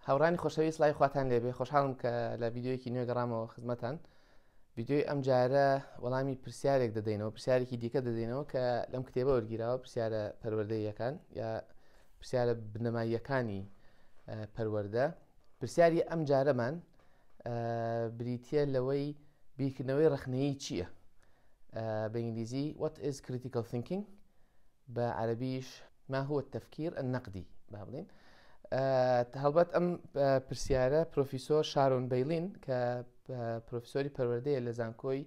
هاورانی خۆشەوی سلای خواتان لێبێ خۆشحاڵم کە لە یددیوەکی نوێ گەڕامەوە خزمەتان یددیوی ئەم جارە وەڵامی پرسیارێک دەدەینەوە پرسیارێکی دیکە دەدەینەوە کە لەم کتێبە وەرگیراوە پرسیارە پەروەردەیەکان یا پرسیارە بنەماییەکانی پەروەەردە پرسیاری ئەم جارەمان بریتە لەوەی بیرکردنەوەی ڕخنەیە چییە بە ئینگلیزی what is critical thinking بە عەرەبیش ما هو التفکیر النقدی با بڵێین هەڵبەت ئەم پرسیارە پرۆفیسۆر شارۆن بەیلین کە پرۆفیسۆری پەروەردەیە لە زانکۆی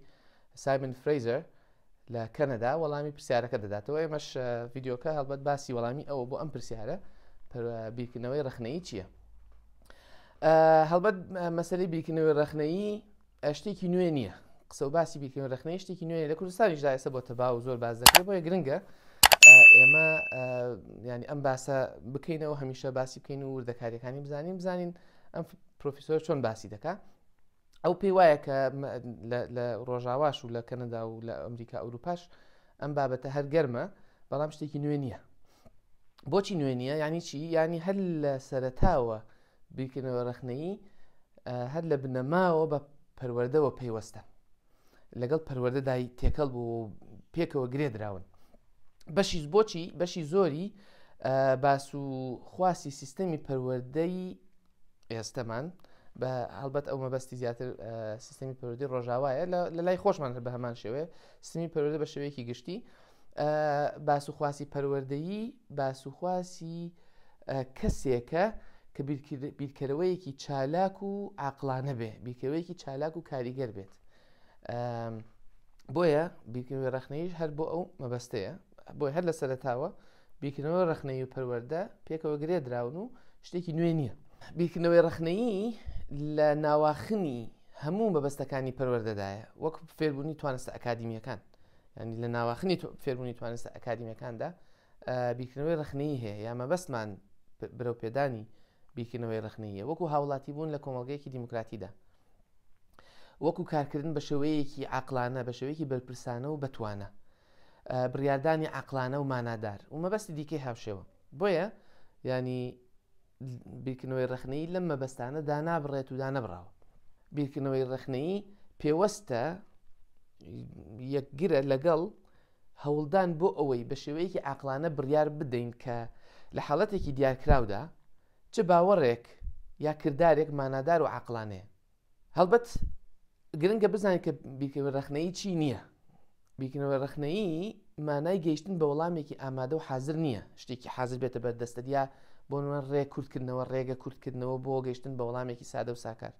سایمن فرەیزەر لە کەنەدا وەڵامی پرسیارەکە دەداتەوە ئێمەش ڤیددیوکە هەڵبەت باسی وەڵامی ئەوە بۆ ئەم پرسیارە بیرکردنەوەی ڕخنەی چییە؟ هەڵبەت مەسەری بیرکردنەوەی ڕخنەیی ئە شتێکی نوێ نییە قسە و باسی بیکردن رخنەی شتێکی نوێ لە کوردستانیشدا ئێستا بۆ تەبا و زۆر باز دەکرێت بۆیە گرنگە ئێمە ینی ئەم باسە بکەینەوە هەمیشە باسی بکەین و وردەکاریەکانی بزانین بزانین ئەم پرۆفیسۆر چۆن باسی دەکات ئەو پێی وایە کە لە ڕۆژاواش و لە کەنەدا و لە ئەمریکا ئەوروپاش ئەم بابەتە هەر گەرمە بەڵام شتێکی نوێ نییە بۆچی نوێ نییە یانی چی یانی هەر لە سەرتاوە بیرکردنەوە ڕخنەیی هەر لە بنەماوە بە پەروەەردەوە پەیوەستە لەگەڵ پەروەەردەدای تێکەڵ بوو و پێکەوە گرێ دراون بەشی بۆچی بەشی زۆری باس و خواسی سیستەمی پەروەەردەی ئێستەمان بە هەڵبەت ئەو مەبەستی زیاتر سیستمی پەرودی ڕۆژاوایە لە لای خۆشمان هەر بە هەمان شێوێ سمی پەرودە بە شێوەیەکی گشتی باس و خواسی پەروەردەیی باس و خواسی کەسێکە کە بیرکەرەوەیەکی چالاک و عقلانە بێ بیرکەوەیەکی چالاک و کاریگەر بێت بۆیە بیرکردنەوە ڕخنەیش هەر بۆ ئەو مەبەستەیە بۆی هەر لە سەرتاوە بیرکردنەوە ڕخنەی و پەروەەردە پێکەوە گرێ دراون و شتێکی نوێ نییە بیرکردنەوەی ڕخنەیی لە ناواخنی هەموو مەبەستەکانی پەروەەردەدایە وەک فێربوونی توانستە ئەکادیمیەکان ینی لە ناواخنی فێربوونی توانستە ئەکادیمیەکاندا بیکردنەوەی ڕخنەی هەیە یا مەبەستمان برەو پێدانی بیکردنەوەی ڕخنەیە وەکو هاوڵاتی بوون لە کۆمەلگەیەکی دیموکراتیدا وەکو کارکردن بە شێوەیەکی عقلانە بە شێوەیەکی بەرپرسانە و بتوانە بڕاردانی عقلانە و مانادار و مەبەستی دیکەی هاوشێوە بۆیە یانی بیرکردنەوەی ڕەخنەیی لەم مەبەستانە دانابڕێت و دانەبراوە بیرکردنەوەی ڕەخنەیی پێوەستە یەکگرە لەگەڵ هەوڵدان بۆ ئەوەی بە شێوەیەکی عقلانە بڕیار بدەین کە لە حاڵەتێکی دیارکراودا چ باوەڕێک یا کردارێک مانادار و عقلانەیە هەڵبەت گرنگە بزانین کە بیرکردنەوە ڕەخنەیی چی نییە بیرکردنەوە ڕەخنەیی مانای گەیشتن بە وەڵامێکی ئامادە و حاضر نییە شتێکی حاضر بێتە بەر دەستە دیا بۆ نوێن ڕێ کورتکردنەوە ڕێگە کورتکردنەوە بۆ گەیشتن بە وەڵامێکی سادە و ساکار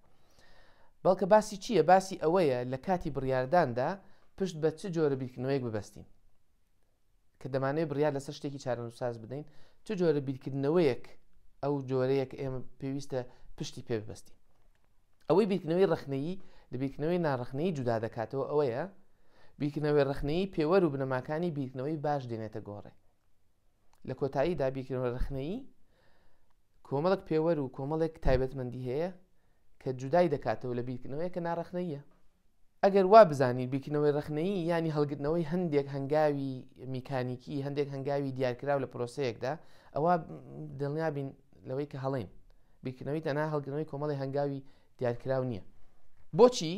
بەڵکە باسی چییە باسی ئەوەیە لە کاتی بڕارداندا پشت بە چ جۆرە بیرکردنەوەیەک ببەستین کە دەمانەوێت بڕیار لەسەر شتێکی چارەنووسساز بدەین چ جۆرە بیرکردنەوەیەک ئەو جۆرەیەک ئێمە پێویستە پشتی پێ ببەستین ئەوەی بیرکردنەوەی ڕخنەیی لە بیرکردنەوەی ناڕخنەی جودا دەکاتەوە ئەوەیە بیرکردنەوەی ڕخنەیی پێوەر و بنەماکانی بیرکردنەوەی باش دێنێتە گۆڕێ لە کۆتایی دابیرکردنەوە ڕخنەیی کۆمەڵێک پێوەر و کۆمەڵێک تایبەتمەندی هەیە کە جودای دەکاتەوە لە بیرکردنەوەیە کە ناڕەخنەییە ئەگەر وا بزانین بیرکردنەوەی ڕەخنەیی ینی هەڵگرتنەوەی هەندێک هەنگاوی میکانیکی هەندێک هەنگاوی دیارکراو لە پرۆسەیەکدا ئەوە دڵنیابین لەوەی کە هەڵین بیرکردنەوەی تەنها هەڵگرنەوەی کۆمەڵی هەنگاوی دیارکراو نییە بۆچی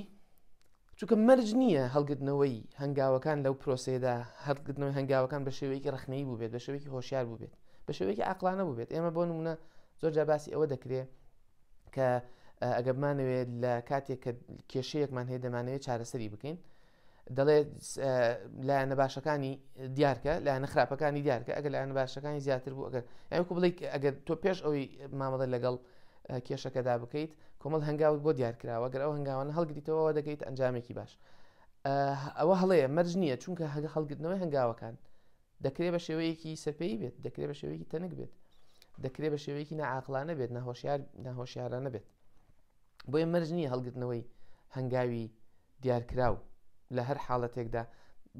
چونکە مەرج نییە هەڵگرتنەوەی هەنگاوەکان لەو پرۆسەیەدا هەڵگرتنەوەی هەنگاوەکان بە شێوەیەکی ڕەخنەیی بووبێت بە شێوەیەکی هۆشیار بووبێت بە شێوەیەکی عقلانە بووبێت ئێمە بۆ نمونە زۆر جا باسی ئەوە دەکرێت کە ئەگەبمانەوێت لە کاتێک کە کێشەیەکمان هەیە دەمانەوێت چارەسەری بکەین دەڵێت لایەنە باشەکانی دیارکە لایەنە خراپەکانی دیارکە ئەگەر لایەنە باشەکانی زیاتر بوو ئەگەر یاکو بڵیت ئەگەر تۆ پێش ئەوی مامەڵە لەگەڵ کێشەکەدا بکەیت کۆمەڵ هەنگاوت بۆ دیار کراوە گەر ئەو هەنگاوانە هەڵگریتەوە ئەوە دەگەیت ئەنجامێکی باش ئەوە هەڵەیە مەرج نییە چونکە هەگە هەڵگرتنەوەی هەنگاوەکان دەکرێت بە شێوەیەکی سەپێی بێت دەکرێت بە شێوەیەکی تەنک بێت دەکرێت بە شێوەیەکی نەعاقلانە بێت نەهۆشیار نەهۆشیارانە بێت بۆیە مەرج نییە هەڵگرتنەوەی هەنگاوی دیارکراو لە هەر حاڵەتێکدا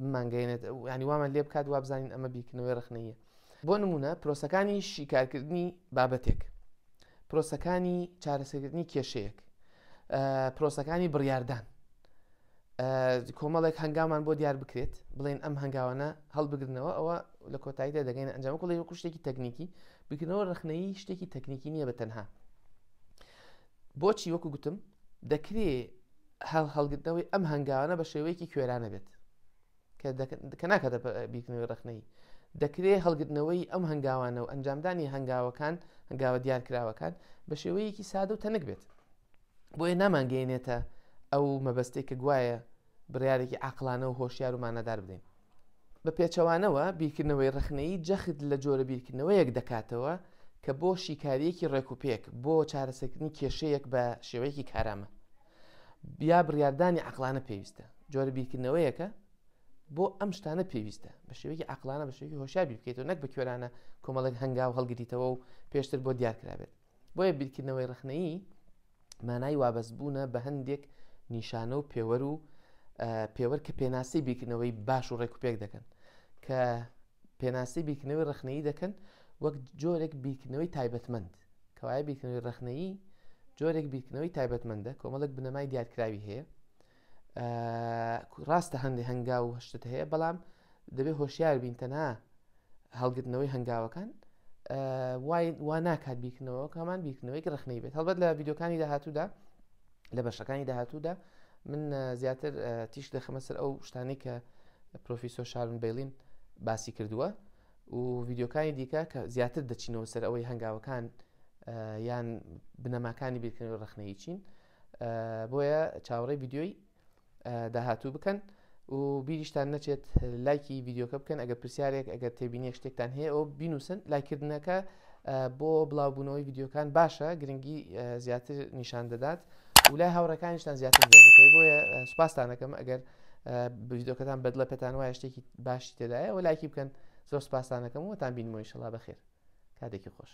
بمانگەێنێت ینی وامان لێ بکات وابزانین ئەمە بیرکردنەوەی ڕخنەیە بۆ نمونە پرۆسەکانی شیکارکردنی بابەتێک پرۆسەکانی چارەسەکردنی کێشەیەک پرۆسەکانی بڕاردان کۆمەڵێک هەنگامان بۆ دیار بکرێت بڵێن ئەم هەنگاوانە هەڵبگرنەوە ئەوە لە کۆتاییدا دەگەین ئەنجام کوڵی وەکو شتێکی تەکنیکی بکردنەوە ڕخنەیی شتێکی تەکنیکی نییە بە تەنها بۆچی وەکو گوتم دەکرێ هەڵ هەڵگرتنەوەی ئەم هەنگاوانە بە شێوەیەکی کوێرانە بێت کە ناکاتە بیرکردنەوەی ڕخنەی دەکرێت هەڵگرتنەوەی ئەم هەنگاوانە و ئەنجامدانی هەنگاوەکان هەنگاوە دیارکراوەکان بە شێوەیەکی سادە و تەنک بێت بۆیە نامانگەێنێتە ئەو مەبەستێک کە گوایە بڕیارێکی عاقڵانە و هۆشیار و مانادار بدەین. بە پێچەوانەوە، بیرکردنەوەی ڕەخنەیی جەخت لە جۆرە بیرکردنەوەیەک دەکاتەوە کە بۆ شیکارییەکی ڕێکوپێک بۆ چارەسەرکردنی کێشەیەک بە شێوەیەکی کارامە یا بڕیاردانی عەقڵانە پێویستە، جۆرە بیرکردنەوەیەکە بۆ ئەم شتانە پێویستە بە شێوەیەکی عەقڵانە بە شێوەیەکی هۆشیار بیر بکەیتەوە نەک بە کوێرانە کۆمەڵێک هەنگاو هەڵگریتەوە و پێشتر بۆ دیار کرابێت. بۆیە بیرکردنەوەی ڕەخنەیی مانای وابەستبوونە بە هەندێک نیشانە و پێوەر و پێوەر کە پێناسی بیرکردنەوەی باش و ڕێکوپێک دەکەن کە پێناسی بیرکردنەوەی ڕەخنەیی دەکەن وەک جۆرێک بیرکردنەوەی تایبەتمەند کەوایە بیرکردنەوەی ڕەخنەیی جۆرێک بیرکردنەوەی تایبەتمەندە کۆمەڵک بنەمای دیارکراوی هەیە ڕاستە هەندی هەنگاو و هەشتت هەیە بەڵام دەبێت هۆشیار بین تەنها هەڵگرتنەوەی هەنگاوەکان وا ناکات بیکنەوە کامان بیکنەوەی ڕخنەی بێت هەڵبەت لە یددیوکانی داهاتوودا لە بەشەکانی داهاتوودا من زیاتر تیش دەخەمە سەر ئەو شتانی کە پرۆفیسۆ شارون بەیلین باسی کردووە و یددیوکانی دیکە کە زیاتر دەچینەوە سەر ئەوەی هەنگاوەکان یان بنەماکانی بیرکردنەوە ڕخنەی چین بۆیە چاوەڕێی ڤیدیۆی داهاتوو بکەن و بیریشتان نەچێت لایکی ڤیددیوکە بکەن ئەگەر پرسیارێک ئەگەر تێبینیێک شتێکتان هەیە ئەو بینوسن لایکردنەکە بۆ بڵاوبوونەوەی ڤیددیوکان باشە گرنگی زیاتر نیشان دەدات و لای هاوڕەکانیشتان زیاتر دەکەی بۆیە سوپاستانەکەم ئەگەر ڤیددیوکەتان بەدڵە پێتان وایە شتێکی باشی تێدایە و لایکی بکەن زۆر سوپاستانەکەم وەتان بینمەوەی شڵا بەخێر کاتێکی خۆش